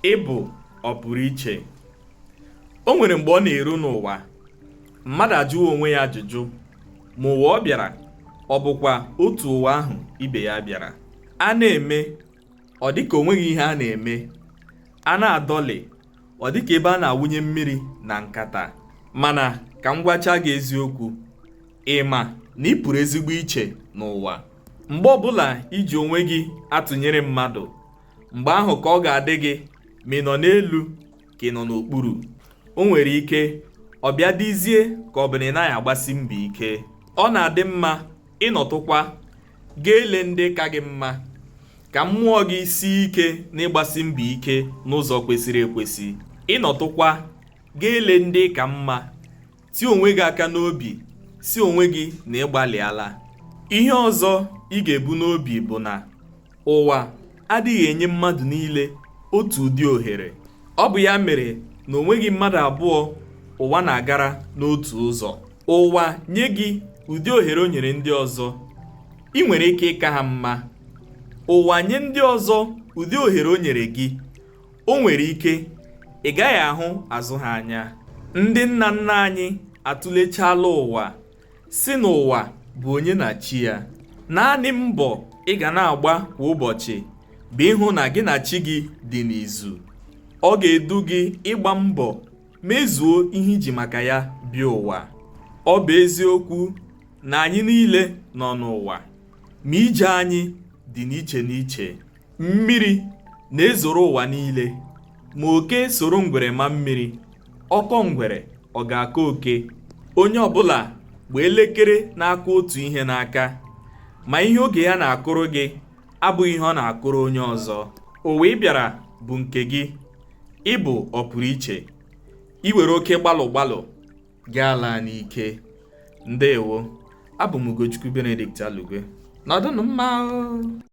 ị bụ ọpụrụ iche o nwere mgbe ọ na-eru n'ụwa mmadụ ajụwa onwe ya ajụjụ ma ụwa ọ bịara ọ bụkwa otu ụwa ahụ ibe ya bịara a na-eme ọ dịka o nweghị ihe a na-eme a na-adọlị ọ dịka ebe a na-awụnye mmiri na nkata mana ka m gwacha gị eziokwu ị ma na ị pụrụ ezigbo iche n'ụwa mgbe ọbụla i ji onwe gị atụnyere mmadụ mgbe ahụ ka ọ ga-adị gị ma ị nọ n'elu ka ị nọ n'okpuru o nwere ike ọ bịa dịzie ka ọ bụ na ị naghị agbasi mbọ ike ọ na-adị mma ị nọtụkwa gị elee ndị ka gị mma ka mmụọ gị sie ike n'ịgbasi mbọ ike n'ụzọ kwesịrị ekwesị ị nọtụkwa gị elee ndị ị ka mma Tie onwe gị aka n'obi sị onwe gị na ị gbalịala. Ihe ọzọ ị ga-ebu n'obi bụ na ụwa adịghị enye mmadụ niile otu ụdị ohere. Ọ bụ ya mere na o nweghị mmadụ abụọ ụwa na-agara n'otu ụzọ. Ụwa nye gị ụdị ohere o nyere ndị ọzọ, i nwere ike ịka ha mma. Ụwa nye ndị ọzọ ụdị ohere o nyere gị, O nwere ike ị gaghị ahụ azụ ha anya. Ndị nna nna anyị atụlechaala ụwa sị na ụwa bụ onye na chi ya. Naanị mbọ ị ga na-agba kwa ụbọchị bụ ịhụ na gị na chi gị dị n'izu. Ọ ga-edu gị ịgba mbọ mezuo ihe i ji maka ya bịa ụwa. Ọ bụ eziokwu na anyị niile nọ n'ụwa, ma ije anyị dị n'iche n'iche. Mmiri na-ezoro ụwa niile, ma oke soro ngwere maa mmiri, ọ kọọ ngwere ọ ga-akọ oke. Onye ọbụla gba elekere na-akụ otu ihe n'aka, ma ihe oge ya na-akụrụ gị abụghị ihe ọ na-akụrụ onye ọzọ. Ụwa ị bịara bụ nke gị, ị bụ ọpụrụ iche. I were oke gbalụ gbalụ, gị alaa n'ike. Ndewo. Abụ m Ugochukwu Benedict Alugwe. Nọdụnụ mma o.